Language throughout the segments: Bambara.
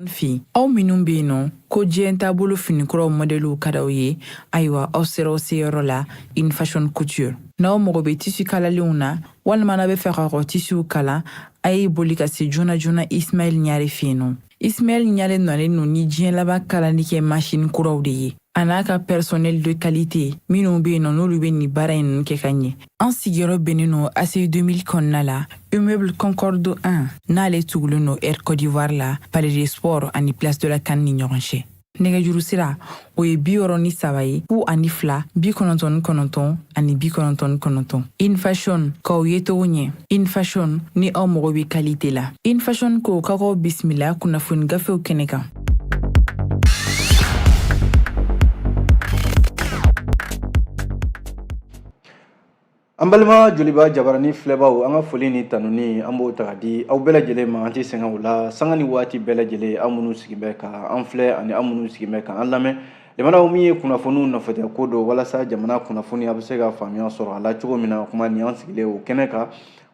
fi aw minnu bɛ yen nɔ ko diɲɛ taabolo finikuraw mɔdɛliw ka d'aw ye ayiwa aw sera aw seyɔrɔ la in fashion couture n'aw mago bɛ tisi kalalenw na walima n'a bɛ fɛ ka kɔ tisiw kala a ye boli ka se joona joona ismail ɲare fɛ yen nɔ Ismail Ɲare nɔlen no ni diɲɛ laban kalali kɛ masini kuraw de ye a n'a ka personnel de qualité minnu bɛ yen nɔ n'olu bɛ nin baara ninnu kɛ ka ɲɛ an sigiyɔrɔ bɛnnen no ACI 2000 kɔnɔna la immeuble concorde 1 n'ale tugulen no air côte d'ivoire la palais des sports ani place de la CAN ni ɲɔgɔn cɛ nɛgɛjuru sira o ye bi wɔɔrɔ ni saba ye fu ani fila bi kɔnɔntɔn ni kɔnɔntɔn ani bi kɔnɔntɔn ni kɔnɔntɔn in fashion k'aw yecogo ɲɛ in fashion ni aw mago bɛ kalite la in fashion ko ka k'aw bisimila kunnafoni gafew kɛnɛ kan An balima joliba jabarani filɛbaw an ka foli ni tanuni an b'o ta ka di aw bɛɛ lajɛlen ma an tɛ sɛgɛn o la sanga ni waati bɛɛ lajɛlen aw minnu sigi bɛ ka an filɛ ani aw minnu sigi bɛ ka an lamɛn limanaw min ye kunnafoniw nɔfɛta ko don walasa jamana kunnafoni a bɛ se ka faamuya sɔrɔ a la cogo min na kuma ni an sigilen o kɛnɛ kan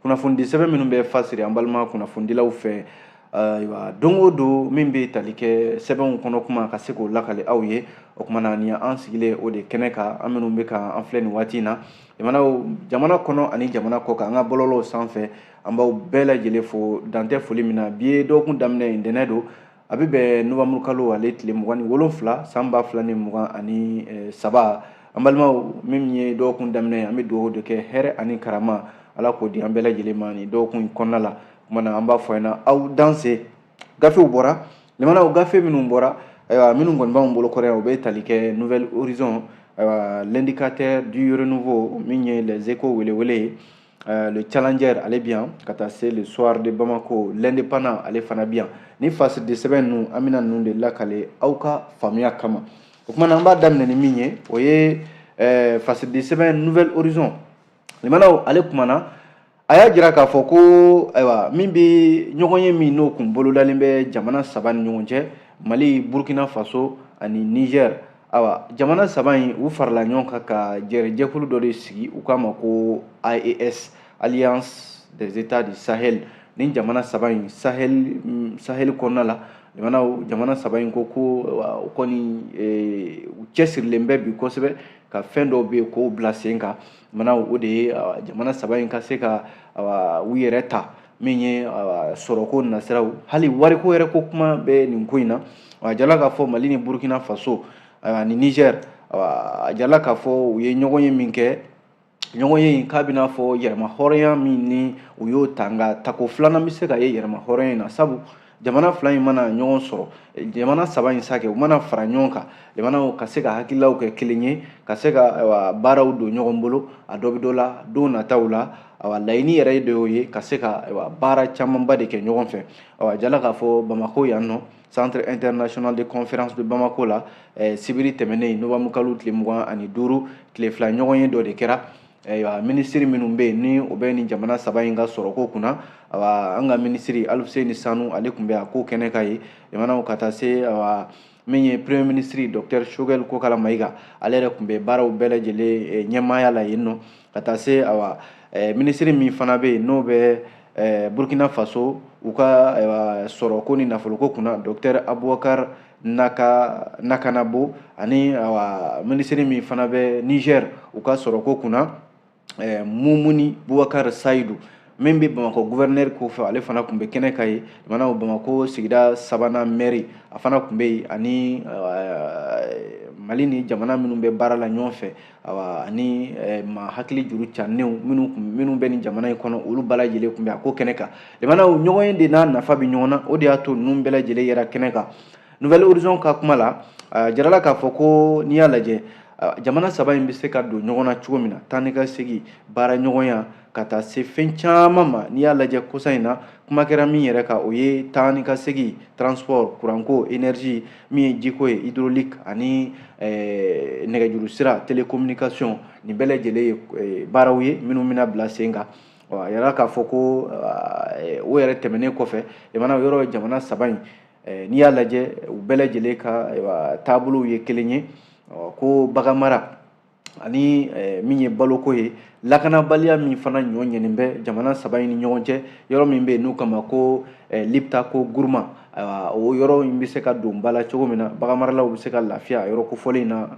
kunnafonidi sɛbɛn minnu bɛ fasiri an balima kunnafonidilaw fɛ ayiwa don o don min bɛ tali kɛ sɛbɛnw kɔnɔ kuma ka se k'o lakali aw ye o kumana ni an sigilen o de kɛnɛ kan aw minnu bɛ ka an filɛ nin waati in na jamana kɔnɔ ani jamana kɔ kan an ka bɔlɔlɔw sanfɛ an b'aw bɛɛ lajɛlen fo dantɛ foli min na bi ye dɔgɔkun daminɛ ntɛnɛn don a bɛ bɛn nowanburu kalo ale tile mugan ni wolonfila san ba fila ni mugan ani saba an balimaw min ye dɔgɔkun daminɛ an bɛ dugawu de kɛ hɛrɛ ani karama ala k'o di an bɛɛ lajɛlen ma nin dɔgɔkun in kɔnɔna la kumana an b'a fɔ ɲɛna aw danse gafew bɔra limanaw gafe minnu bɔra ayiwa minnu kɔni b'anw bolo kɔrɔ yan u bɛ tali kɛ nouvel horizon ayiwa l'indicateur du renouveau min ye les échos welewele ye Euh, le challenger ale bi yan ka taa se le soir de bamako l'indépendant ale fana bi yan ni fasidi sɛbɛn ninnu an bɛna ninnu de lakale aw ka faamuya kama o kumana an b'a daminɛ ni min ye o ye euh, fasidi sɛbɛn nouvel horizon limanaw ale kumana a y'a jira k'a fɔ ko ayiwa min bɛ ɲɔgɔnye min n'o tun bolodalen bɛ jamana saba ni ɲɔgɔn cɛ mali burkina faso ani niger ayiwa jamana saba in u farala ɲɔgɔn kan ka jɛrɛjɛkulu dɔ de sigi u k'a ma ko AES alliance des états du sahel nin jamana saba in sahel kɔnɔna la jamana saba in ko ko u kɔni u cɛsirilen bɛ bi kosɛbɛ ka fɛn dɔw bɛ yen k'o bila sen kan mana o de ye jamana saba in ka se ka u yɛrɛ ta min ye sɔrɔko nasiraw hali wariko yɛrɛ ko kuma bɛ nin ko in na a jala k'a fɔ mali ni burukina faso ani nizɛri a jala k'a fɔ u ye ɲɔgɔnye min kɛ ɲɔgɔnye in k'a b'i n'a fɔ yɛrɛmahɔrɔnya min ni u y'o ta nka tako filanan bɛ sen kan ye yɛrɛmahɔrɔnya in na sabu jamana fila in mana ɲɔgɔn sɔrɔ jamana saba in sa kɛ u mana fara ɲɔgɔn kan jamanaw ka se ka hakililaw kɛ kelen ye ka se ka baaraw don ɲɔgɔn bolo a dɔ bɛ dɔ la don nataw la awa laɲini yɛrɛ de y'o ye ka se ka baara camanba de kɛ ɲɔgɔn fɛ awa jala k'a fɔ bamakɔ yan nɔ centre international de conférence de bamako la eh, sibiri tɛmɛnen nowanburu kalo tile mugan ani duuru tile fila ɲɔgɔnye dɔ de kɛra ayiwa minisiri minnu bɛ yen ni o bɛ nin jamana saba in ka sɔrɔko kunna awa an ka minisiri aluseni sanu ale tun bɛ a ko kɛnɛ kan yen jamanaw ka taa se awa min ye premier minisiri docteur shogɛl kokala mayiga ale yɛrɛ tun bɛ baaraw bɛɛ lajɛlen eh, ɲɛmaaya la yen nɔ ka taa se awa eh, minisiri min fana bɛ yen n'o bɛ eh, burkina faso u ka eh, sɔrɔko ni nafoloko kunna docteur abubakar naka nakanabo ani awa minisiri min fana bɛ niger u ka sɔrɔko kunna eh, mumuni bubakar sayidu min bɛ bamakɔ guvɛrinɛri kofɔ ale fana tun bɛ kɛnɛ kan yen jamana bamakɔ sigida sabanan mɛri a fana tun bɛ yen ani mali ni jamana minnu bɛ baara la ɲɔgɔn fɛ ani maa hakili juru canenw minnu minnu bɛ nin jamana in kɔnɔ olu bɛɛ lajɛlen tun bɛ a ko kɛnɛ kan jamana ɲɔgɔnye de n'a nafa bɛ ɲɔgɔn na o de y'a to ninnu bɛɛ lajɛlen yera kɛnɛ kan nouvel horizon ka kuma la jirala k'a fɔ ko n'i y'a lajɛ jamana saba in bɛ se ka don ɲɔgɔn na cogo min na taa ni ka segin baara ɲɔgɔnya ka taa se fɛn caman ma n'i y'a lajɛ kosa in na kuma kɛra min yɛrɛ kan o ye taa ni ka segin transport kuranko énergie min ye jiko ye hydraulique ani eh, nɛgɛjuru sira télécommunication nin bɛɛ lajɛlen ye eh, baaraw ye minnu bɛna bila sen kan ɔ a yɛrɛ k'a fɔ ko eh, o yɛrɛ tɛmɛnen kɔfɛ jamana yɔrɔ jamana saba in eh, n'i y'a lajɛ u bɛɛ lajɛlen ka eh, taabolow ye kelen ye ɔ ko baganmara ani eh, min ye baloko ye lakanabaliya min fana ɲɔ ɲɛnen bɛ jamana saba in ni ɲɔgɔn cɛ yɔrɔ min bɛ yen n'u k'a ma ko eh, liptako guruma o yɔrɔ in bɛ se ka don ba la cogo min na baganmaralaw bɛ se ka lafiya yɔrɔ kofɔlen in na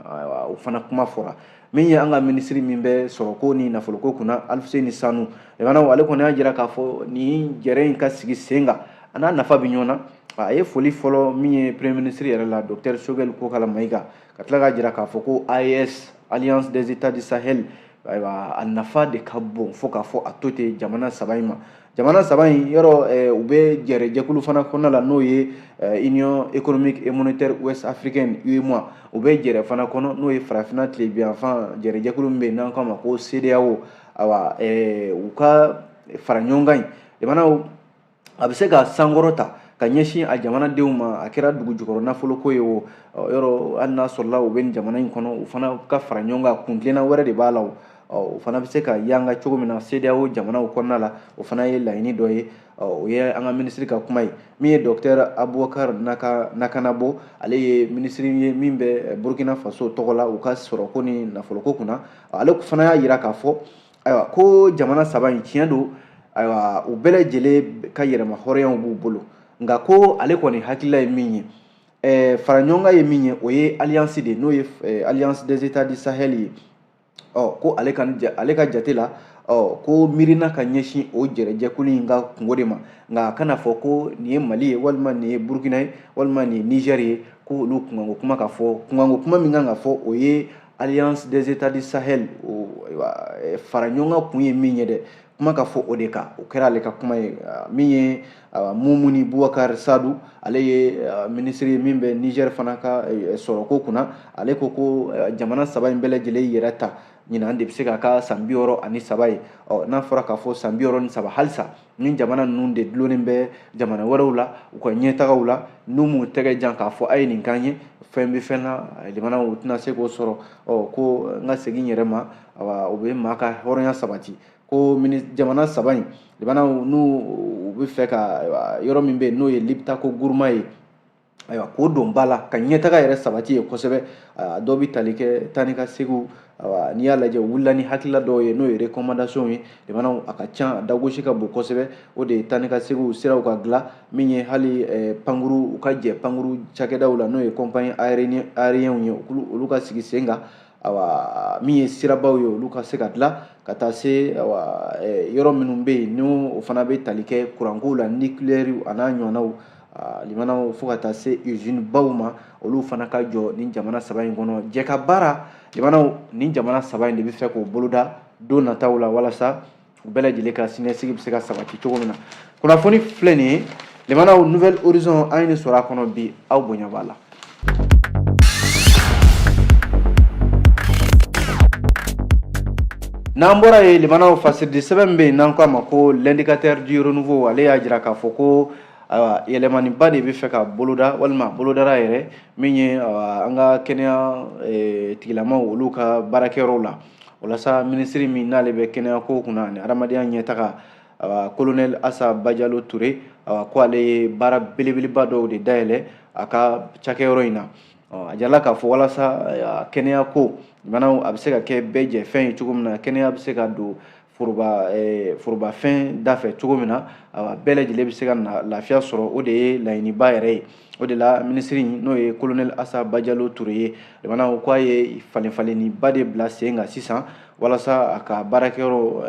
o fana kuma fɔra min ye an ka minisiri min bɛ sɔrɔko ni nafoloko kunna aluseni sanu jamanaw ale kɔni y'a jira k'a fɔ nin jɛrɛ in ka sigi sen kan a n'a nafa bɛ ɲɔgɔn na a ye foli fɔlɔ min ye premier minisiri yɛrɛ la docteur shogɛli kokala mayiga ka tila k'a jira k'a fɔ ko AES Alliance des États du Sahel ayiwa a nafa de ka bon fo k'a fɔ a to ten jamana saba in ma jamana saba in yɔrɔ eh, u bɛ jɛrɛjɛkulu fana kɔnɔna la n'o ye eh, union économique et monétaire ouest africaine UEMOA u bɛ jɛrɛ fana kɔnɔ n'o ye farafinna tilebinyanfan jɛrɛjɛkulu min bɛ yen n'an k'a ma ko CEDEAO ayiwa eh, u ka fara ɲɔgɔn kan in jamanaw a bɛ se ka sankɔrɔta ka ɲɛsin a jamanadenw ma a kɛra dugu jukɔrɔ nafoloko ye o yɔrɔ hali n'a sɔrɔla u bɛ nin jamana in kɔnɔ u fana ka fara ɲɔgɔn kan kuntilenna wɛrɛ de b'a la o o fana bɛ se ka yanga cogo min na CEDEAO jamanaw kɔnɔna la o fana ye laɲini dɔ ye o ye an ka minisiri ka kuma ye min ye docteur Abubakar Naka Nakanabo ale ye minisiri ye min bɛ Burkina Faso tɔgɔ la u ka sɔrɔko ni nafoloko kunna ale fana y'a jira k'a fɔ ayiwa ko jamana saba in tiɲɛ don ayiwa u bɛɛ lajɛlen ka yɛrɛmahɔrɔnyaw b'u bolo nka ko ale kɔni hakilila ye min ye ɛɛ fara ɲɔgɔn kan ye min ye o ye alliance de n'o ye alliance des états du sahel ye ɔ ko ale ka ale ka jate la ɔ ko miirina ka ɲɛsin o jɛrɛjɛkulu in ka kunko de ma nka a kana fɔ ko nin ye mali ye walima nin ye burkina ye walima nin ye niger ye ko olu kunkanko kuma ka fɔ kunkanko kuma min kan ka fɔ o ye alliance des états du sahel o eh, fara ɲɔgɔn kan kun ye min ye dɛ kuma ka fɔ o de kan o kɛra ale ka kuma ye ah, min ye ah, mumuni bubakar sadu ale ye ah, minisiri ye min bɛ niger fana ka eh, sɔrɔko kunna ale ko ko eh, jamana saba in bɛɛ lajɛlen yɛrɛta ɲinan de bɛ se ka k'a san bi wɔɔrɔ ani saba ye ɔ n'a fɔra k'a fɔ san bi wɔɔrɔ ni saba halisa ni jamana ninnu de dulonnen bɛ jamana wɛrɛw la u ka ɲɛtagaw la n'u m'u tɛgɛ jan k'a fɔ a ye nin k'an ye fɛn bɛ fɛn na jamana u tɛna se k'o sɔrɔ ɔ ko n ka segin yɛrɛ ma o bɛ maa ka hɔrɔnya sabati ko jamana saba in jamana n'u u bɛ fɛ ka yɔrɔ min bɛ yen n'o ye Liptako Gourma ye ayiwa k'o don ba la ka ɲɛtaga yɛrɛ sabati ye kosɛbɛ dɔw bɛ tali kɛ taa ni ka seginw n'i y'a lajɛ u wulila ni hakilila dɔw ye n'o ye recommandation ye jamanaw a ka ca dagosi ka bon kosɛbɛ o de ye taa ni ka seginw siraw ka dilan min ye hali pankuru u ka jɛ pankuru cakɛdaw la n'o ye compagnie aériennew ye olu ka sigi sen kan awa min ye sirabaw ye olu ka se ka dilan ka taa se yɔrɔ minnu bɛ yen n'o fana bɛ tali kɛ kurankow la nucléaire an'a ɲɔgɔnnaw limanaw fo ka taa se usine baw ma olu fana ka jɔ nin jamana saba in kɔnɔ jɛ ka baara limanaw nin jamana saba in de bɛ fɛ k'o boloda don nataw la walasa u bɛɛ lajɛlen ka siniɲɛsigi bɛ se ka sabati cogo min na kunnafoni filɛ nin ye limanaw Nouvel Horizon an ye nin sɔrɔ a kɔnɔ bi aw bonya b'a la n'an bɔra yen limanaw fasiridisɛbɛn min bɛ yen n'an k'a ma ko l'indicateur du renouveau ale y'a jira k'a fɔ ko ayiwa yɛlɛmaniba de bɛ fɛ ka boloda walima bolodara yɛrɛ min ye an ka kɛnɛya e, tigilamaw olu ka baarakɛyɔrɔw la walasa minisiri min n'ale bɛ kɛnɛyako kunna ani adamadenya ɲɛtaga kolonɛli asa bajalo ture ko ale ye baara belebeleba dɔw de dayɛlɛ a ka cakɛyɔrɔ in na a jirala k'a fɔ walasa kɛnɛyako jamanaw a bɛ se ka kɛ bɛɛ jɛ fɛn ye cogo min na kɛnɛya bɛ se ka don Eh, forobafɛn da fɛ cogo min na a bɛɛ lajɛlen bɛ se ka lafiya sɔrɔ o de ye laɲiniba yɛrɛ ye o de la minisiri n'o ye kolonɛli asa bajalo ture ye jamana ko a ye falenfalenniba de bila sen kan sisan walasa a ka baarakɛyɔrɔ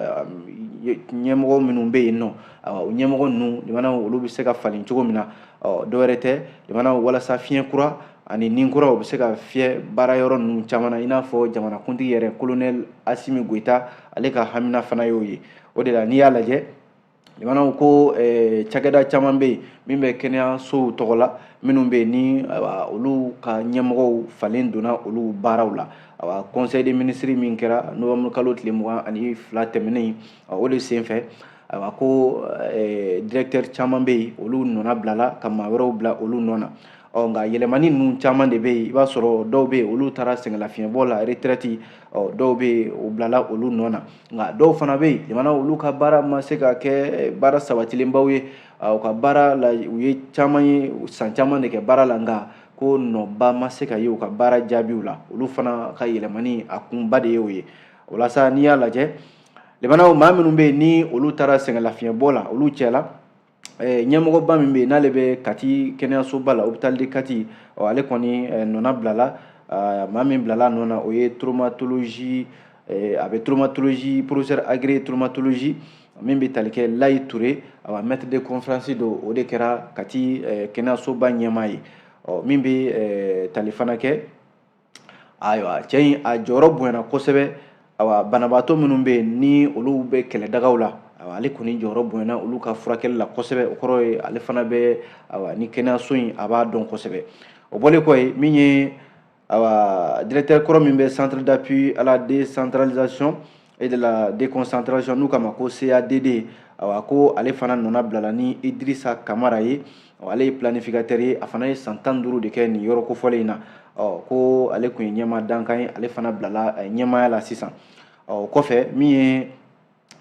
eh, ɲɛmɔgɔ minnu bɛ yen nɔ o ɲɛmɔgɔ ninnu jamana olu bɛ se ka falen cogo min na dɔwɛrɛ tɛ jamana walasa fiɲɛ kura ani ni kura u bɛ se ka fiyɛ baara yɔrɔ ninnu caman na i n'a fɔ jamanakuntigi yɛrɛ kolonɛli asimi goyita ale ka hamina fana y'o ye o de la n'i y'a lajɛ jamanaw ko eh, cakɛda caman bɛ yen min bɛ kɛnɛyasow tɔgɔ la minnu bɛ yen ni olu ka ɲɛmɔgɔw falen donna olu baaraw la awa conseil des ministres min kɛra novembre kalo tile mugan ani fila tɛmɛnen o de senfɛ ayiwa ko eh, directeur caman bɛ yen olu nɔna bilala ka maa wɛrɛw bila olu nɔ na ɔ nka yɛlɛmani ninnu caman de bɛ yen i b'a sɔrɔ dɔw bɛ yen olu taara sɛgɛnlafiɲɛbɔ la retraite ɔ dɔw bɛ yen u bilala olu nɔ na nka dɔw fana bɛ yen jamana olu ka baara ma se ka kɛ baara sabatilenbaw ye u ka baara la u ye caman ye san caman de kɛ baara la nka ko nɔba ma se ka ye u ka baara jaabiw la olu fana ka yɛlɛmani a kunba de ye o ye o la sa n'i y'a lajɛ jamanaw maa minnu bɛ yen ni olu taara sɛgɛnlafiɲɛbɔ la olu cɛla eh, ɲɛmɔgɔba min bɛ yen n'ale bɛ kati kɛnɛyasoba la hôpital de kati ɔ ale kɔni eh, nɔna bilala ah, maa min bilala nɔ na o ye traumatologie eh, a bɛ traumatologie professeur agrégé traumatologie min bɛ tali kɛ layi ture awa maître de conférence don o de kɛra kati kɛnɛyasoba ɲɛmaa ye ɔ min bɛ tali fana kɛ ayiwa cɛ in a jɔyɔrɔ bonyana kosɛbɛ ayiwa banabaatɔ minnu bɛ yen ni olu bɛ kɛlɛdagaw la ayiwa ale kɔni jɔyɔrɔ bonyana olu ka furakɛli la kosɛbɛ o kɔrɔ ye ale fana bɛ ayiwa ni kɛnɛyaso in a b'a dɔn kosɛbɛ o bɔlen kɔ yen min ye ayiwa directeur kɔrɔ min bɛ centre d'appui à la décentralisation et de la déconcentration n'u k'a ma ko CADD awa ko ale fana nɔna bilala ni Idrissa Kamara ye ale ye planificateur ye a fana ye san tan duuru de kɛ nin yɔrɔ kofɔlen in na ɔ ko ale tun ye ɲɛmaa dankan ye ale fana bilala eh, ɲɛmaaya la sisan ɔ o kɔfɛ min ye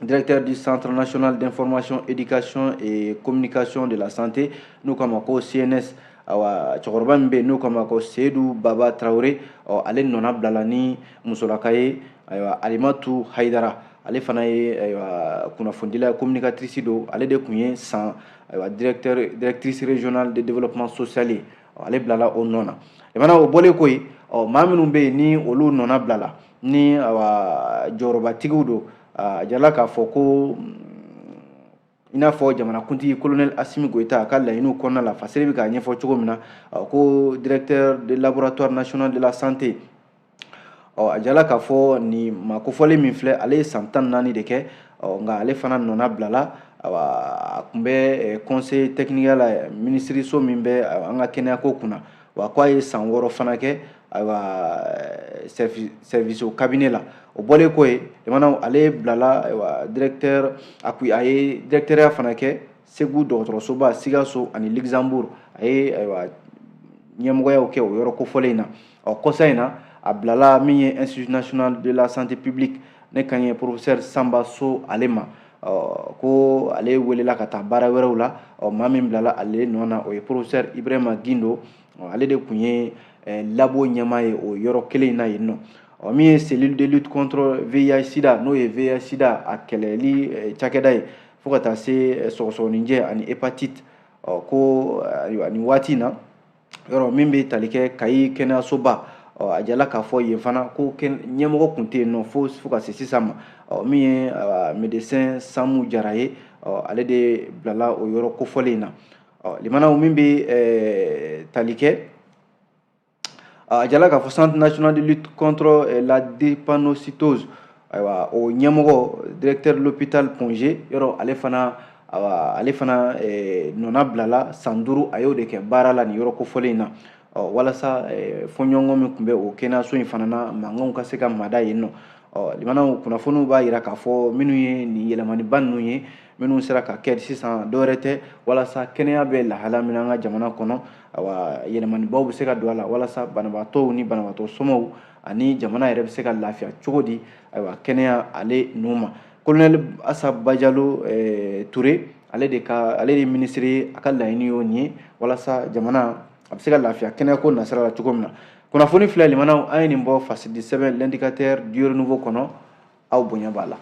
directeur du centre national d'information éducation et communication de la santé n'u k'a ma ko CNS awa cɛkɔrɔba min bɛ yen n'o k'a ma ko seyidu baba tarawele ɔ ale nɔna bilala ni musolaka ye ayiwa alimatu hayidara ale fana ye ayiwa kunnafonidila communicatrice don ale de tun ye san ayiwa directeur directrice régionale de développement social ye ale bilala o nɔ na jamana o bɔlen kɔ yen ɔ maa minnu bɛ yen ni olu nɔna bilala ni awa jɔyɔrɔbatigiw don a jala k'a fɔ ko i n'a fɔ jamanakuntigi kolonɛli asimi goyita a ka laɲiniw kɔnɔna la fasere bɛ k'a ɲɛfɔ cogo min na ko directeur de laboratoire national de la santé ɔ a jala k'a fɔ nin makofɔlen min filɛ ale ye san tan naani de kɛ ɔ nka ale fana nɔna bilala a tun bɛ conseil technique la minisiriso min bɛ an ka kɛnɛyako kunna wa ko a ye san wɔɔrɔ fana kɛ service cabinet la o bɔlen kɔ yen jamana ale bilala directeur a ko a ye directeurya fana kɛ segu dɔgɔtɔrɔsoba sikaso ani luxembourg a ye ɲɛmɔgɔyaw kɛ o yɔrɔ kofɔlen in na ɔ kɔsa in na a bilala min ye institut national de la santé publique ne kan ye professeur sanba so ale ma ɔ ko ale welela ka taa baara wɛrɛw la ɔ maa min bilala ale nɔ na o ye professeur ibrahima gindo ale de tun ye eh, labo ɲɛmaa ye o yɔrɔ kelen in na yen nɔ ɔ min ye cellule de lutte contre vih sida n'o ye vih sida a kɛlɛli eh, cakɛda ye fo ka taa se eh, sɔgɔsɔgɔninjɛ ani hépatite ɔ ko ayiwa nin waati in na yɔrɔ min bɛ tali kɛ kayi kɛnɛyasoba a jala k'a fɔ yen fana ko ɲɛmɔgɔ tun tɛ yen nɔ fo fo ka se sisan ma min ye médecin samu jara ye ale de bilala o yɔrɔ kofɔlen in na limanaw min bɛ tali kɛ a jala k'a fɔ centre national de lutte contre la drépanocytose ayiwa o ɲɛmɔgɔ directeur l'hôpital point g yɔrɔ ale fana awa ale fana eh, nɔna bilala san duuru a y'o de kɛ baara la nin yɔrɔ kofɔlen in na ɔ walasa eh, fɔɲɔgɔnkɔ min tun bɛ o kɛnɛyaso in fana na mankanw ka se ka mada yen nɔ ɔ limanaw kunnafoniw b'a yira k'a fɔ minnu ye nin yɛlɛmaniba ninnu ye minnu sera ka kɛ sisan dɔwɛrɛ tɛ walasa kɛnɛya bɛ lahala min an ka jamana kɔnɔ awa yɛlɛmanibaw bɛ se ka don a la walasa banabaatɔw ni banabaatɔ somɔw ani jamana yɛrɛ bɛ se ka lafiya cogo di ayiwa kɛnɛya ale n'u ma kolonɛli asa bajalo eh, ture ale de ka ale de minisiri ye a ka laɲini y'o nin ye walasa jamana a bɛ se ka lafiya kɛnɛyako nasira la cogo min na kunnafoni filɛ limanaw an ye nin bɔ fasiridi sɛbɛn l'indicateur du renouveau kɔnɔ aw bonya b'a la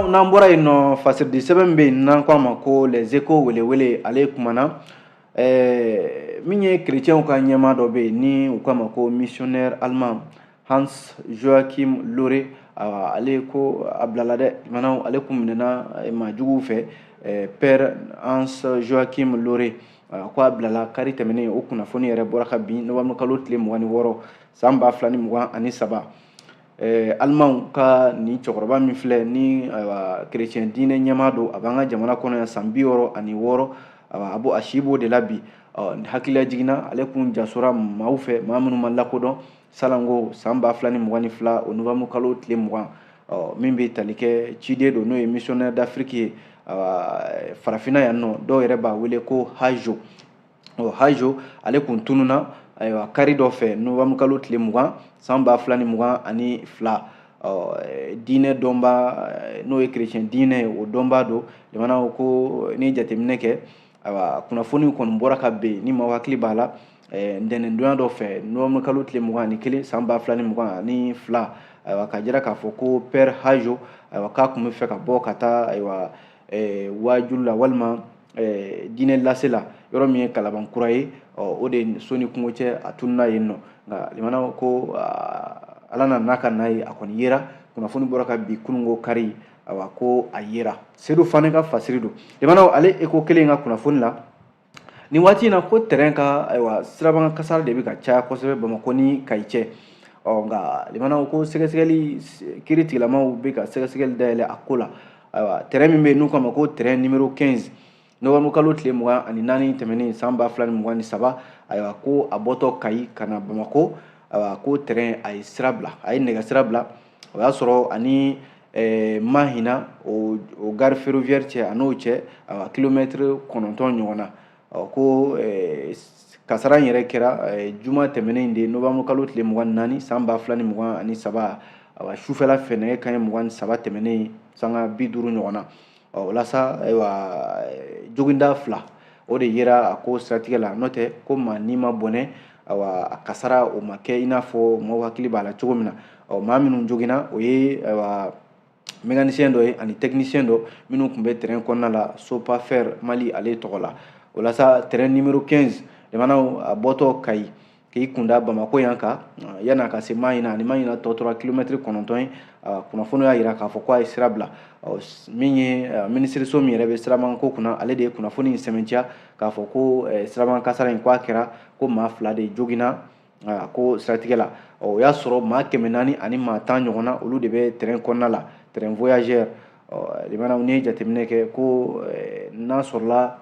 n'an bɔra yen nɔ fasiridi sɛbɛn bɛ yen n'an k'a ma ko les échos welewele ale kumana ɛɛ min ye kerecɛnw ka ɲɛmaa dɔ bɛ yen ni u k'a ma ko missionnaire allemand hans joachim lohre awa ale ko a bilala dɛ lamɛnnaw ale kun minɛna eh, maa juguw fɛ eh, père hans joachim lohre ah, ko a bilala kari tɛmɛnen o kunnafoni yɛrɛ bɔra kabini nowanburu kalo tile mugan ni wɔɔrɔ san ba fila ni mugan ani saba eh, alimanw ka nin cɛkɔrɔba min filɛ ni kerecɛn diinɛ ɲɛmaa don a b'an ka jamana kɔnɔ yan san bi wɔɔrɔ ani wɔɔrɔ a b'o a si b'o de la bi hakilila jiginna ale kun jasora maaw fɛ maa minnu ma lakodɔn salon ko san ba fila ni mugan ni fila o nowanburu kalo tile mugan min bɛ tali kɛ ciden don n'o ye missionnaire d'afrique ye farafinna yan nɔ dɔw yɛrɛ b'a wele ko hajo ɔ hajo ale kun tununna ayiwa kari dɔ fɛ nowanburu kalo tile mugan san ba fila ni mugan ani fila diinɛ donba n'o ye kerecɛn diinɛ ye o donba don jamana ko n'i ye jateminɛ kɛ ayiwa kunnafoniw kɔni bɔra kabini maaw hakili b'a la ntɛnɛndonya dɔ fɛ nowanburu kalo tile mugan ni kelen san ba fila ni mugan ani fila ayiwa k'a jira k'a fɔ ko pɛri hajo ayiwa k'a kun bɛ fɛ ka bɔ ka taa ayiwa waajuli la walima diinɛ lase la yɔrɔ min ye kalabankura ye o de so ni kungo cɛ a tununa yen nɔ nka lamɛnnaw ko ala nana n'a ka na ye a kɔni yera kunnafoni bɔra kabi kunun ko kari ayiwa ko a yera sedu fana ka fasiri don lamɛnnaw ale eko kelen ka kunnafoni la Nin waati in na ko tɛrɛn ka ayiwa siraban kasara de bɛ ka caya kosɛbɛ bamakɔ ni kayi cɛ ɔ nka lamɛnnaw ko sɛgɛsɛgɛli kiiri tigilamaaw bɛ ka sɛgɛsɛgɛli dayɛlɛ a ko la ayiwa tɛrɛn min bɛ yen n'u k'a ma ko tɛrɛn numéro quinze nowanburu kalo tile mugan ani naani tɛmɛnen san ba fila ni mugan ni saba ayiwa ko a bɔtɔ kayi ka na bamakɔ ayiwa ko tɛrɛn a ye sira bila a ye nɛgɛ sira bila o y'a sɔrɔ a ni eh, Mahina o, o gare ferroviaire cɛ a n'o cɛ awa kilomɛtiri kɔnɔntɔn ɲɔgɔn na ɔ ko eh, kasara in yɛrɛ kɛra eh, juma tɛmɛnen in de nowanburu kalo tile mugan ni naani san ba fila ni mugan ani saba awa sufɛla fɛ nɛgɛ kanɲɛ mugan ni saba tɛmɛnen sanga bi duuru ɲɔgɔn na ɔ o la sa ayiwa joginda fila o de yera a ko siratigɛ la n'o tɛ ko maa ni ma bɔnɛ ayiwa a kasara o ma kɛ i n'a fɔ maaw hakili b'a la cogo min na ɔ maa minnu joginna o ye ayiwa mécanicien dɔ ye ani technicien dɔ minnu tun bɛ train kɔnɔna la sopafer mali ale tɔgɔ la o la sa train numéro 15 lamɛnnaw a bɔtɔ kayi k'i kunda bamako yan kan yan'a ka se mahina a ni mahina tɔ tora kilomɛtiri kɔnɔntɔn ye kunnafoni y'a jira k'a fɔ ko a ye sira bila min ye minisiriso min yɛrɛ bɛ sirabako kunna ale de ye kunnafoni in sɛmɛntiya k'a fɔ ko siraban kasara in ko a kɛra ko maa fila de joginna ko siratigɛ la o y'a sɔrɔ maa kɛmɛ naani ani maa tan ɲɔgɔn na olu de bɛ tɛrɛn kɔnɔna la tɛrɛn voyageur lamɛnnaw n'i ye jateminɛ kɛ ko n'a sɔrɔla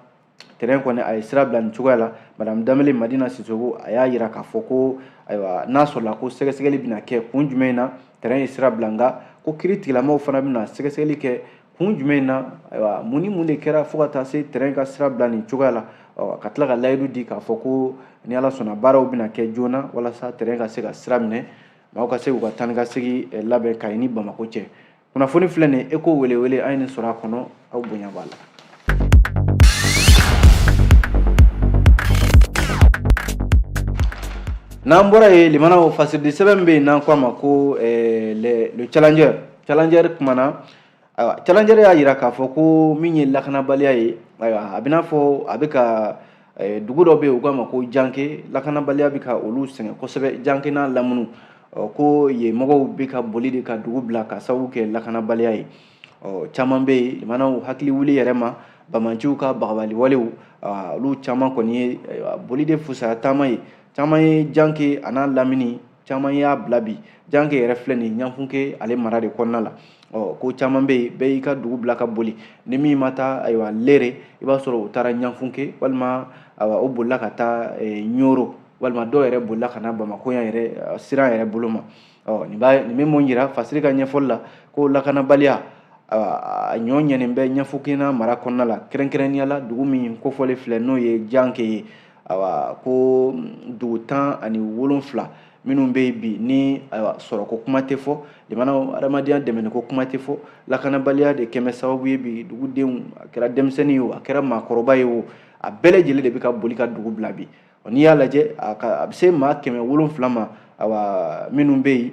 train kɔni a ye sira bila nin cogoya la madame danbele madina sisoko a y'a yira k'a fɔ ko ayiwa n'a sɔrɔla ko sɛgɛsɛgɛli bɛna kɛ kun jumɛn na train ye sira bila nka ko kiiritigɛla mɔgɔw fana bɛna sɛgɛsɛgɛli kɛ kun jumɛn na ayiwa mun ni mun de kɛra fo ka taa se train ka sira bila nin cogoya la ka tila ka layidu di k'a fɔ ko ni ala sɔnna baaraw bɛna kɛ joona walasa train ka se ka sira minɛ maaw ka se k'u ka taa ni ka segin labɛn kayi ni bamako cɛ kunnafoni filɛ nin eko welewele an ye nin sɔrɔ a kɔnɔ aw bonya b'a la n'an bɔra yen limanaw fasiridi sɛbɛn min bɛ yen n'an ko a ma ko eh, le le challenger challenger kumana ayiwa challenger y'a jira k'a fɔ ko min ye lakanabaliya ye ayiwa a bɛ n'a fɔ a bɛ ka Eh, dugu dɔ bɛ yen u k'a ma ko janke lakanabaliya bɛ ka olu sɛgɛn kosɛbɛ janke n'a lamunu ko yen mɔgɔw bɛ ka boli de ka dugu bila ka sababu kɛ lakanabaliya ye caman bɛ yen limanaw hakili wuli yɛrɛ ma bamanciw ka bagabaliwalew olu caman kɔni ye boli de fusaya taama ye caman ye janke an'a lamini caman y'a bila bi janke yɛrɛ filɛ nin ɲanfunke ale mara de kɔnɔna la ɔ ko caman bɛ yen bɛɛ y'i ka dugu bila ka boli ni min ma taa ayiwa lere i b'a sɔrɔ u taara ɲanfunke walima ayiwa o bolila ka taa eh, ɲoro walima dɔw yɛrɛ bolila ka na bamako yan yɛrɛ eh, siran yɛrɛ bolo ma ɔ nin b'a nin bɛ mun jira fasiri ka ɲɛfɔli la ko lakanabaliya a ɲɔ ɲɛnen bɛ ɲanfunkena mara kɔnɔna la kɛrɛnkɛrɛnnenya la dugu min kofɔlen filɛ n'o ye janke ye ayiwa ko dugu tan ani wolonfila minnu bɛ yen bi ni ayiwa sɔrɔko kuma tɛ fɔ jamana adamadenya dɛmɛniko kuma tɛ fɔ lakanabaliya de kɛn bɛ sababu ye bi dugudenw a kɛra denmisɛnnin ye o a kɛra maakɔrɔba ye o a bɛɛ lajɛlen de bɛ ka boli ka dugu bila bi n'i y'a lajɛ a bɛ se maa kɛmɛ wolonfila ma ayiwa minnu bɛ yen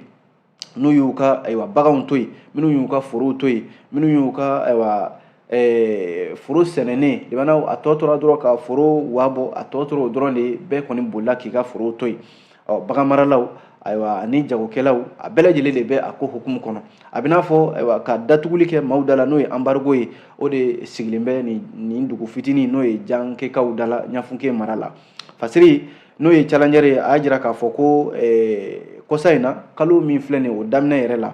n'u y'u ka ayiwa baganw to yen minnu y'u ka forow to yen minnu y'u ka ayiwa Eh, foro sɛnɛnen limanaw a tɔ tora dɔrɔn ka foro wabɔ a tɔ tora o dɔrɔn de bɛɛ kɔni bolila k'i ka foro to yen ɔ bagan maralaw ayiwa ani jagokɛlaw a bɛɛ lajɛlen de bɛ a ko hukumu kɔnɔ a bɛ n'a fɔ ayiwa ka datuguli kɛ maaw da la n'o ye embargo ye o de sigilen bɛ nin dugu fitinin n'o ye jankekaw da la ɲanfunke mara la fasiri n'o ye challenger ye a y'a jira k'a fɔ ko eh, kɔsa in na kalo min filɛ nin o daminɛ yɛrɛ la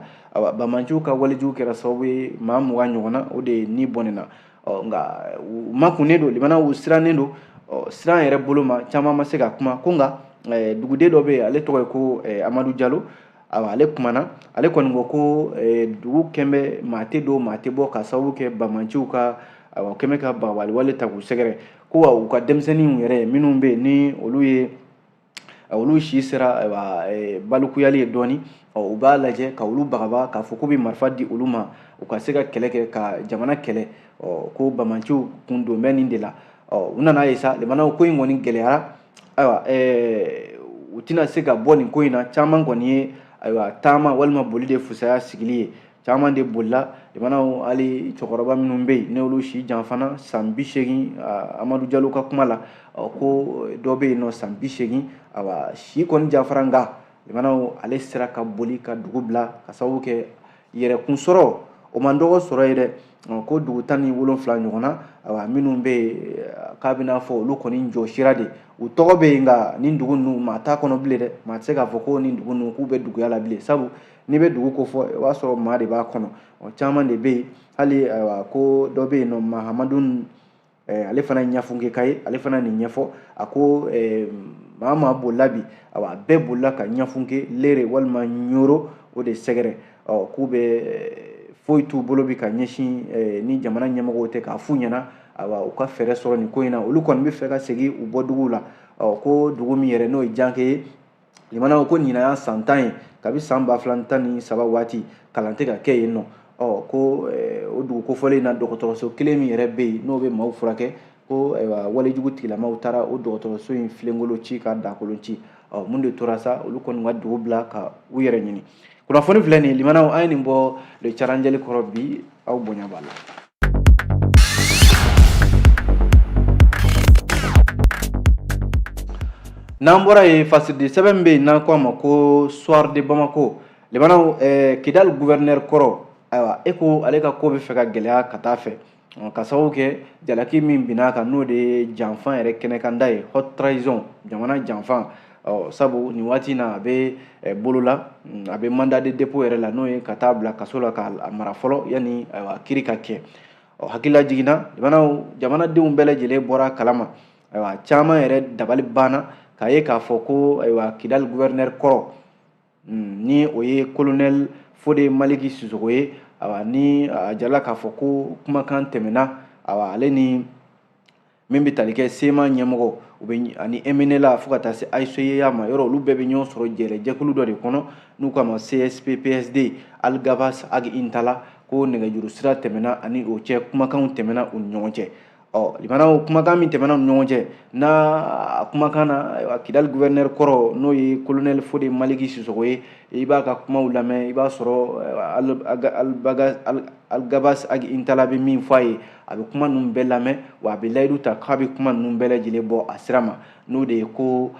bamanciw ka walejugu kɛra sababu ye maa mugan ɲɔgɔnna o de ni bɔnɛna nka u makunnen don limanaw u sirannen don siran yɛrɛ bolo ma caman ma se ka kuma ko nka eh, duguden dɔ bɛ yen ale tɔgɔ ye ko eh, amadu jalo awa ale kumana ale kɔni ko ko eh, dugu kɛn bɛ maa tɛ don maa tɛ bɔ ka sababu kɛ bamanciw ka awa kɛn bɛ ka bagabaliwale ta k'u sɛgɛrɛ ko wa u ka denmisɛnninw yɛrɛ minnu bɛ yen ni olu si sera balikuyali ye dɔɔni u b'a lajɛ ka olu bagabaga k'a fɔ k'u bɛ marifa di olu ma u ka se ka kɛlɛ kɛ ka jamana kɛlɛ ko banbaanciw kun don bɛ nin de la u nana ye sa limanaw ko in kɔni gɛlɛyara ayiwa u tɛna se ka bɔ nin ko in na caman kɔni ye ayiwa taama walima boli de fusaya sigili ye caman de bolila limanaw hali cɛkɔrɔba minnu bɛ yen n'olu si janfana san bi seegin amadu jalo ka kuma la ko dɔ bɛ yen nɔ san bi seegin awa si kɔni janfara nka limanaw ale sera ka boli ka dugu bila ka sababu kɛ yɛrɛkun sɔrɔ o man dɔgɔ sɔrɔ ye dɛ ko dugu tan ni wolonfila ɲɔgɔn na awa minnu bɛ yen k'a bɛna fɔ olu kɔni jɔ sira de u tɔgɔ bɛ yen nka nin dugu ninnu maa t'a kɔnɔ bilen dɛ maa tɛ se k'a fɔ ko nin dugu ninnu k'u bɛ duguya la bilen sabu n'i bɛ dugu kofɔ o b'a sɔrɔ maa de b'a kɔnɔ o caman de bɛ yen hali ayiwa ko dɔ bɛ yen nɔ mahamadu ale fana ye ɲafunkeka ye ale fana nin ɲɛfɔ a ko maa maa bolila bi ayiwa bɛɛ bolila ka ɲafunke leere walima ɲoro o de sɛgɛrɛ ɔ k'u bɛ foyi t'u bolo bi ka ɲɛsin ni jamana ɲɛmɔgɔw tɛ k'a f'u ɲɛna ayiwa u ka fɛɛrɛ sɔrɔ nin ko in na olu kɔni b'a fɛ ka segin u bɔ dugu la ɔ ko dugu min yɛrɛ n'o ye janke ye limanaw ko ɲinan y'a san tan ye kabi san ba fila ni tan ni saba waati kalan tɛ ka kɛ yen nɔ ɔ ko eh, o dugu kofɔlen na dɔgɔtɔrɔso kelen min yɛrɛ bɛ yen n'o bɛ maaw furakɛ ko ayiwa walejugu tigilamaw taara o dɔgɔtɔrɔso in filenkolon ci ka dakolon ci ɔ mun de tora sa olu kɔni ka dugu bila ka u yɛrɛ ɲini kunnafoni filɛ nin ye limanaw an ye nin bɔ le challenger kɔrɔ bi aw bonya b'a la n'an bɔra yen fasidi sɛbɛn min bɛ yen n'an ko a ma ko soir de bamako limanaw eh, kidali gouverneur kɔrɔ ayiwa e ko ale ka ko bɛ fɛ ka gɛlɛya ka taa fɛ ka sababu kɛ jalaki min binn'a kan n'o de ye janfan yɛrɛ kɛnɛkanda ye haute trahison jamana janfan sabu nin waati na a bɛ bolo la mm, a bɛ mandat de dépôt yɛrɛ la n'o ye ka taa bila kaso la k'a mara fɔlɔ yanni kiiri ka kɛ ɔ hakililajigin na limanaw jamanadenw bɛɛ lajɛlen bɔr'a kalama ayiwa caman yɛrɛ dabali banna k'a ye k'a fɔ ko ayiwa kidali guvɛrinɛri kɔrɔ hmm, ni o ye kolonɛli fode maliki sisoko ye awa ni a jirala k'a fɔ ko kumakan tɛmɛna awa ale ni min bɛ tali kɛ cma ɲɛmɔgɔ u bɛ ani mnla fo ka taa se hcua ma yɔrɔ olu bɛɛ bɛ ɲɔgɔn sɔrɔ yɛrɛ jɛkulu dɔ de kɔnɔ n'u k'a ma csp psd algabas ag intala ko nɛgɛjuru sira tɛmɛna a ni o cɛ kumakanw tɛmɛna u ni ɲɔgɔn cɛ ɔ limanaw kumakan min tɛmɛna u ni ɲɔgɔn cɛ n'a a kumakan na ayiwa kidali guvɛrinɛri kɔrɔ n'o ye kolonɛli fode maliki sisogo ye i b'a ka kumaw lamɛn i b'a sɔrɔ algabas ag intala bɛ min fɔ a ye a bɛ kuma ninnu bɛɛ lamɛn wa a bɛ layidu ta k'a bɛ kuma ninnu bɛɛ lajɛlen bɔ a sira ma n'o de ye ko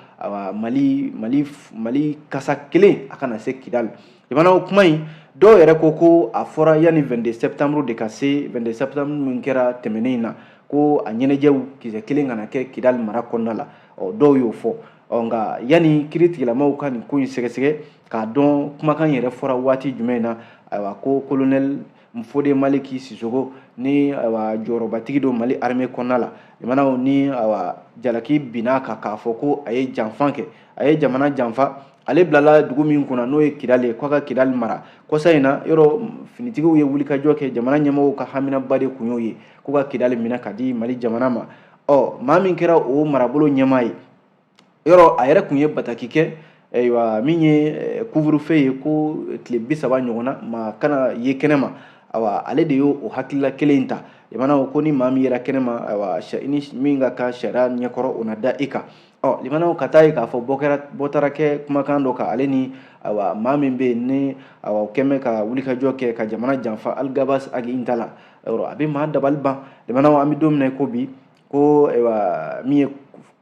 mali mali mali kasa kelen a kana se kidali Jamana o kuma in dɔw yɛrɛ ko ko a fɔra yanni vingt-deux septembre de ka se vingt-deux septembre min kɛra tɛmɛnen in na ko a ɲɛnajɛw kisɛ kelen kana kɛ kidali mara kɔnɔna la ɔ dɔw y'o fɔ ɔ nka yanni kiritigilamaw ka nin ko in sɛgɛsɛgɛ k'a dɔn kumakan yɛrɛ fɔra waati jumɛn na ayiwa ko kolonɛli fode maliki sisogo ni awa jɔyɔrɔbatigi don mali armée kɔnɔna la limanaw ni awa jalaki binna a kan k'a fɔ ko a ye janfa kɛ a ye jamana janfa ale bilala dugu min kunna n'o ye kidali ye k'a ka kidali mara kɔsa in na yɔrɔ finitigiw ye wulikajɔ kɛ jamana ɲɛmɔgɔw ka haminaba de kun y'o ye k'u ka kidali minɛ k'a di mali jamana ma ɔ maa min kɛra o marabolo ɲɛmaa ye yɔrɔ a yɛrɛ kun ye bataki kɛ ayiwa min ye eh, couvre-feu ye ko tile bi saba ɲɔgɔnna maa kana ye kɛnɛ ma awa ale de y'o o hakilila kelen in ta limanaw ko ni maa min yera kɛnɛ ma awa ni min ka kan sariya ɲɛkɔrɔ o na da i kan ɔ limanaw ka taa ye k'a fɔ bɔ taara kɛ kumakan dɔ kan ale ni awa maa min bɛ yen ni awa o kɛn bɛ ka wulikajɔ kɛ ka jamana janfa aligabas agi intala a bɛ maa dabali ban limanaw an bɛ don min na i ko bi ko ayiwa min ye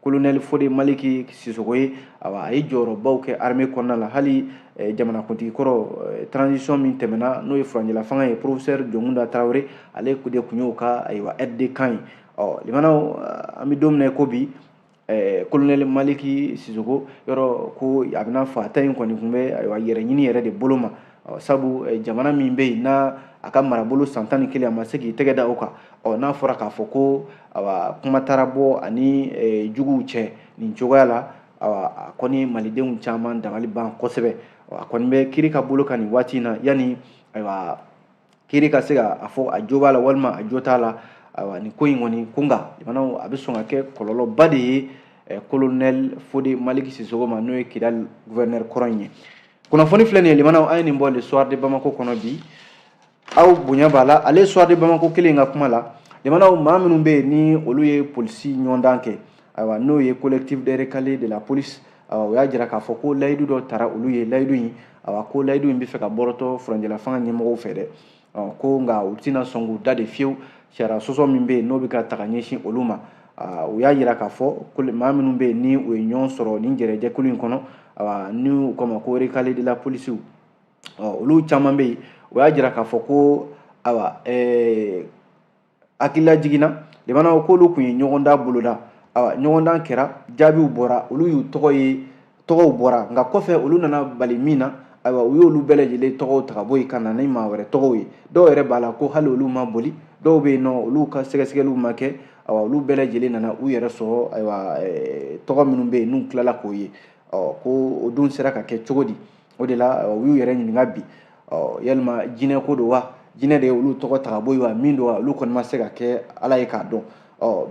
kolonɛli fode maliki sisogo ye awa a ye jɔyɔrɔbaw kɛ arme kɔnɔna la hali eh, jamanakuntigi kɔrɔ eh, transition min tɛmɛna n'o ye furanjɛla fanga ye professeur jɔnkunda tarawele ale de kun y'o ka ayiwa aide de camp ye ɔ limanaw eh, an bɛ don min na i ko bi kolonɛli maliki sisogo yɔrɔ ko a bɛna fɔ a ta in kɔni tun bɛ ayiwa yɛrɛ ɲini yɛrɛ de bolo ma sabu eh, jamana min bɛ yen n'a a ka marabolo san tan ni kelen a ma se k'i tɛgɛ da o kan ɔ n'a fɔra k'a fɔ ko awa kuma taara bɔ ani eh, juguw cɛ nin cogoya la awa a kɔni malidenw caman dabali ban kosɛbɛ a kɔni bɛ kiri ka bolo kan nin waati in na yanni ayiwa kiri ka se ka a fɔ a jo b'a la walima a jo t'a la ayiwa nin ko in kɔni ko nka limanaw a bɛ sɔn ka kɛ kɔlɔlɔba de ye kolonɛli fode maliki sisoko ma n'o ye kidali guvɛrinɛri kɔrɔ in ye kunnafoni filɛ nin ye limanaw an ye nin bɔ le soir de bamako kɔnɔ bi aw bonya b'a la ale soir de bamako kelen ka kuma la limanaw maa minnu bɛ yen ni olu ye polisi ɲɔgɔndan kɛ ayiwa n'o ye collectif des recalés de la police o y'a jira k'a fɔ ko layidu dɔ tara olu ye layidu in awa ko layidu in bɛ fɛ ka bɔrɔtɔ furanjɛlafanga ɲɛmɔgɔw fɛ dɛ ko nka u tɛna sɔn k'u da de fiyewu sariya sɔsɔ min bɛ yen n'o bɛ ka taga ɲɛsin olu ma u y'a jira k'a fɔ ko maa minnu bɛ yen ni u ye ɲɔgɔn sɔrɔ nin jɛrɛjɛkulu in kɔnɔ awa ni u k'o ma ko recalés de la polisiw olu caman bɛ yen u y'a jira k'a fɔ ko awa ɛɛ hakililajigin na limanaw k'olu kun ye ɲɔgɔndan boloda awa ɲɔgɔndan kɛra jaabiw bɔra olu y'u tɔgɔ ye tɔgɔw bɔra nka kɔfɛ olu nana bali min na ayiwa u y'olu bɛɛ lajɛlen tɔgɔw ta ka bɔ yen ka na ni maa wɛrɛ tɔgɔw ye dɔw yɛrɛ b'a la ko hali olu ma boli dɔw bɛ yen n'olu ka sɛgɛsɛgɛliw ma kɛ awa olu bɛɛ lajɛlen nana u yɛrɛ sɔrɔ ayiwa tɔgɔ minnu bɛ yen n'u tilala k'o ye ɔ ko o dun sera ka kɛ cogo di o de la u y'u yɛrɛ ɲininka bi yalima jinɛ ko don wa jinɛ de ye olu tɔgɔ ta ka bɔ yen wa min don wa olu kɔni ma se ka kɛ ala ye k'a dɔn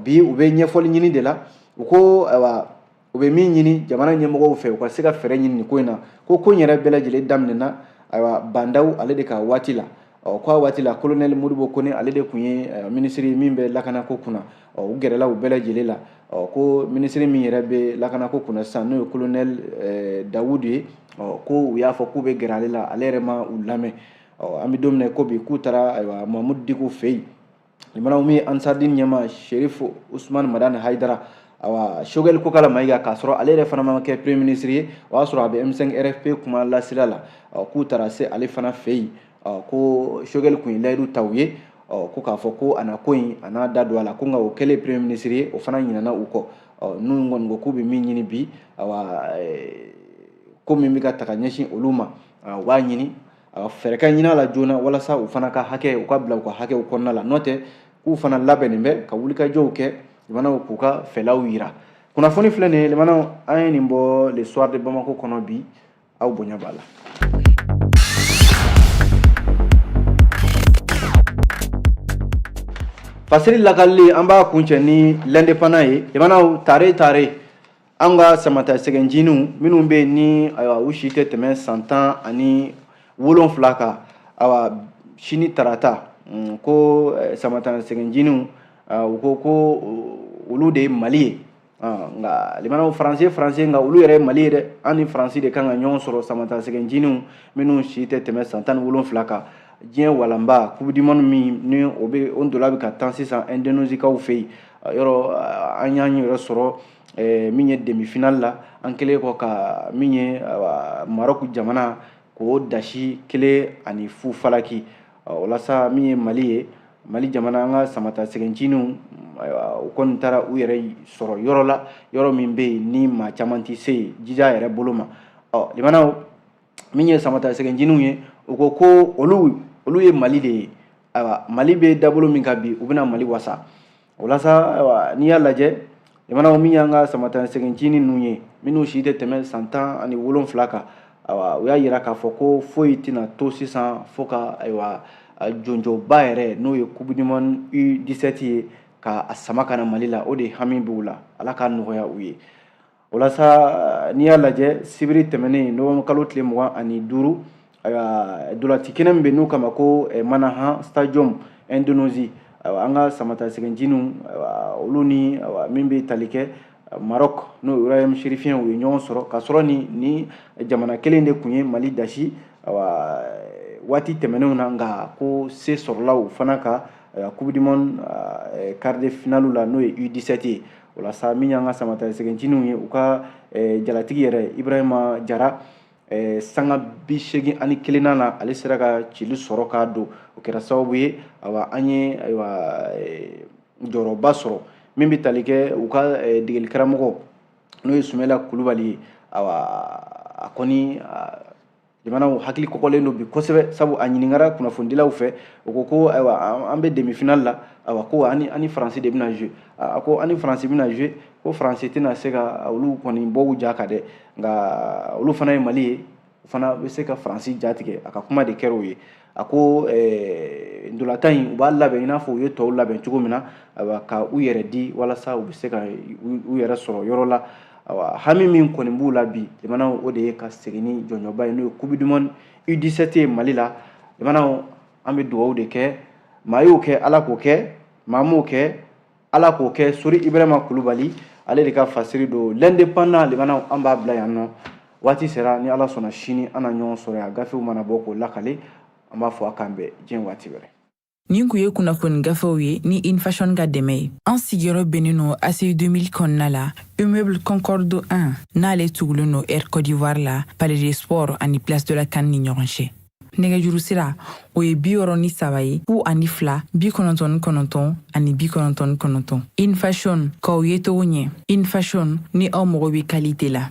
bi u bɛ ɲɛfɔli ɲini de la u ko ayiwa u bɛ min ɲini jamana ɲɛmɔgɔw fɛ u ka se ka fɛɛrɛ ɲini nin ko in na ko ko in yɛrɛ bɛɛ lajɛlen daminɛna ayiwa ba ndaw ale de ka waati la ɔ k'a waati la kolonɛli modibo kone ale de kun ye eh, minisiri ye min bɛ lakanako kunna ɔ u gɛrɛla u bɛɛ lajɛlen la ɔ ko minisiri min yɛrɛ bɛ lakanako kunna sisan n'o ye kolonɛli eh, dawudu ye ɔ ko u y'a fɔ k'u bɛ gɛrɛ ale la ale yɛrɛ ma u lamɛn ɔ an bɛ don min na ko bi k'u taara ayiwa mahamudu diko fɛ yen limanaw min ye ansaridini ɲɛmaa sherifu usumani madani hayidara awa sogɛli kokala mayiga k'a sɔrɔ ale yɛrɛ fana ma kɛ premier ministre ye o y'a sɔrɔ a bɛ m5 rfp kumalasela la k'u taara se ale fana fɛ yen ko sogɛli kun ye layidu ta u ye ko k'a fɔ ko a na ko in a n'a da don a la ko nka o kɛlen premier ministre ye o fana ɲinana u kɔ n'u kɔni ko k'u bɛ min ɲini bi awa ko min bɛ ka taga ɲɛsin olu ma u b'a ɲini a fɛɛrɛ ka ɲin'a la joona walasa u fana ka hakɛ u ka bila u ka hakɛw kɔnɔna la n'o tɛ k'u fana labɛnnen bɛ ka wulikajɔw kɛ limanaw k'u ka fɛlaw yira kunnafoni filɛ nin ye limanaw an ye nin bɔ le soir de bamako kɔnɔ bi aw bonya b'a la fasiri lakalili an b'a kuncɛ ni l'indépendant ye limanaw tare tare an ka samatasɛgɛ nciniw minnu bɛ yen ni ayiwa u si tɛ tɛmɛ san tan ani wolonfila kan ayiwa sini tarata mm, ko eh, samatasɛgɛ nciniw ah, u ko ko uh, olu de ye mali ye ah, nka limanaw faransi faransi nka olu yɛrɛ ye mali ye dɛ an ni faransi de kan ka ɲɔgɔn sɔrɔ samatasɛgɛ nciniw minnu si tɛ tɛmɛ san tan ni wolonfila kan diɲɛ walanba coupe du monde min ni o bɛ o ntola bɛ ka tan sisan indonezikaw fɛ yen yɔrɔ ah, an y'an yɛrɛ sɔrɔ eh, min ye demi final la an kɛlen kɔ ka min ye marɔku jamana k'o dasi kelen ani fu falaki walasa min ye mali ye mali jamana an ka samatasɛgɛ nciniw u kɔni taara u yɛrɛ sɔrɔ yɔrɔ la yɔrɔ min bɛ yen ni maa caman tɛ se yen jija yɛrɛ bolo ma ɔ limanaw min ye samatasɛgɛ nciniw ye u ko ko olu olu ye mali de ye ayiwa mali bɛ dabolo min kan bi u bɛna mali wasa walasa n'i y'a lajɛ jamana min y'an ka samatasɛgɛ ncinin ninnu ye minnu si tɛ tɛmɛ san tan ani wolonfila kan ayiwa u y'a yira k'a fɔ ko foyi tɛna to sisan fo ka ayiwa jɔnjɔnba yɛrɛ n'o ye coupe du monde U17 ye ka a sama ka na Mali la o de hami b'u la Ala k'a nɔgɔya u ye walasa n'i y'a lajɛ sibiri tɛmɛnen novembre kalo tile mugan ani duuru ndolaci kɛnɛ min bɛ n'u k'a ma ko Manahan Stadium Indonésie an ka samatasɛgɛ ncininw olu ni min bɛ tali kɛ Maroc n'o ye Royaume chérifien u ye ɲɔgɔn sɔrɔ ka sɔrɔ nin ni jamana kelen de tun ye mali dasi waati tɛmɛnenw na nka ko se sɔrɔla u fana kan coupe du monde quart de finale la n'o ye U17 ye walasa min y'an ka samatasɛgɛ ncininw ye u ka eh, jalatigi yɛrɛ ibrahima jara eh, sanga bi seegin ani kelennan na ale sera ka cili sɔrɔ k'a don o kɛra sababu ye awa an ye ayiwa eh, jɔyɔrɔba sɔrɔ min bɛ tali kɛ u ka eh, degeli karamɔgɔ n'o ye sumela kulubali ye awa a kɔni jamanaw hakili kɔgɔlen don bi kosɛbɛ sabu a ɲininkara kunnafonidilaw fɛ u ko ko ayiwa an bɛ demifinali la ayiwa ko ani ani faransi de bɛna jouer a ko ani faransi bɛna jouer ko faransi tɛna se ka olu kɔni bɔ u ja kan dɛ nka olu fana ye mali ye u fana bɛ se ka faransi jatigɛ a ka kuma de kɛra o ye a ko eh, ndolatan in u b'a labɛn i n'a fɔ u ye tɔw labɛn cogo min na ka u yɛrɛ di walasa u bɛ se ka u yɛrɛ sɔrɔ yɔrɔ la hami min kɔni b'u la bi jamanaw o de ye ka segin ni jɔnjɔnba ye n'o ye coupe du monde U17 ye Mali la jamanaw an bɛ dugawu de kɛ maa y'o kɛ Ala k'o kɛ maa m'o kɛ ala k'o kɛ sori ibrahima kulubali ale de ka fasiri don l'indépendant limanaw an b'a bila yan nɔ waati sera ni ala sɔnna sini an na ɲɔgɔn sɔrɔ yan gafew mana bɔ k'o lakali an b'a fɔ a k'an bɛn diɲɛ waati wɛrɛ nin kun ye kunnafoni gafew ye ni infashon ka dɛmɛ ye an sigiyɔrɔ bɛnnen no ACI 2000 kɔnɔna la immeuble concorde 1 n'ale tugulen no air cote d'ivoire la palais des sports ani place de la CAN ni ɲɔgɔn cɛ nɛgɛjuru sira o ye bi wɔɔrɔ ni saba ye fu ani fila bi kɔnɔntɔn ni kɔnɔntɔn ani bi kɔnɔntɔn ni kɔnɔntɔn infashon k'aw yecogo ɲɛ infashon ni aw mago bɛ kalite la